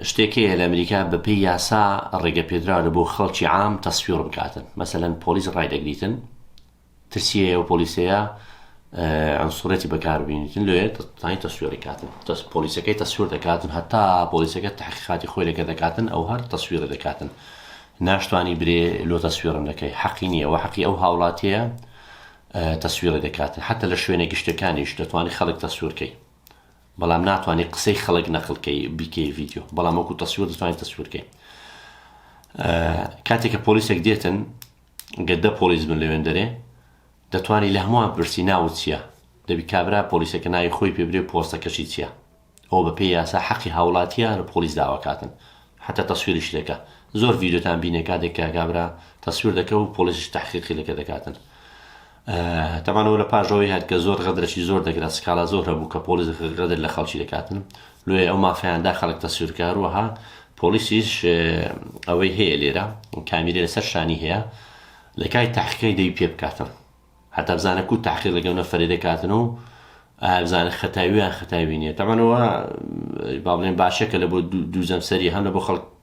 شتێک هەیە لە ئەمریکا بە پێی یاسا ڕێگە پێدراوە لە بۆ خەڵکی عام تەسفیڕ بکاتن مەسەلەن پۆلیس ڕای دەگریتن ترسی هەیە و پۆلیسەیە عنصرێتی بەکار بینیتن لێ تانی تەسوێڕی کاتن تەس پۆلیسەکەی تەسوور دەکاتن هەتا پۆلیسەکە تحقیقاتی خۆی لەگە دەکاتن ئەو هەر تەسویر دەکاتن ناشتوانی برێ لۆ تەسوێرم دەکەی حەقی نییە و حەقی ئەو هاوڵاتیە تەسویرە دەکاتن حتا لە شوێنە گشتەکانیش دەتوانانی خەڵک تەسوورکەی بەڵام ناتوانی قسەی خەڵک نەقل کەی بیکەی ڤیدیۆ بەڵام وەکو تەسویر دەتوانین تەسویر کەین کاتێک کە پۆلیسێک دێتن گەدە پۆلیس بن لەوێن دەرێ دەتوانی لە هەمووان پرسی ناوت چییە دەبی کابرا پۆلیسەکە ناوی خۆی پێبرێ پۆستەکەشی چییە ئەو بە پێی یاسا حەقی هاوڵاتیە لە پۆلیس داواکاتن حتا تەسویریش دەکە زۆر ڤیددیوتان بینێ کاتێک کاکابرا تەسویر دەکە و پۆلیسش تحقیقی لەکە دەکاتن تەبان ئەوە لە پاش ئەوەی هات کە زۆر غەدرەکی زۆر دەکرا سکاڵا زۆر هەبوو کە پۆلیس غەدر لە خەڵکی دەکاتن لۆیە ئەو مافیان دا خەڵک تەسویر کە هەروەها پۆلیسیش ئەوەی هەیە لێرە کامیرە لەسەر شانی هەیە لە کای تحقیقی دەوی پێ بکاتن هەتا بزانە کو تحقیق لەگەڵ نەفرێ دەکاتن و ئابزانە خەتاویان خەتاوی نیە تەمانەوە با بڵێن باشە کە لە بۆ دوو جەمسەری هەم لە بۆ خەڵک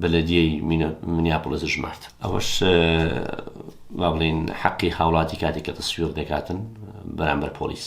بەلەدیەی مینیاپڵس ژمارد. ئەوەش وا بڵێین حەقی هاوڵاتی کاتێک کە تەسویق دەکاتن بەرامبەر پۆلیس.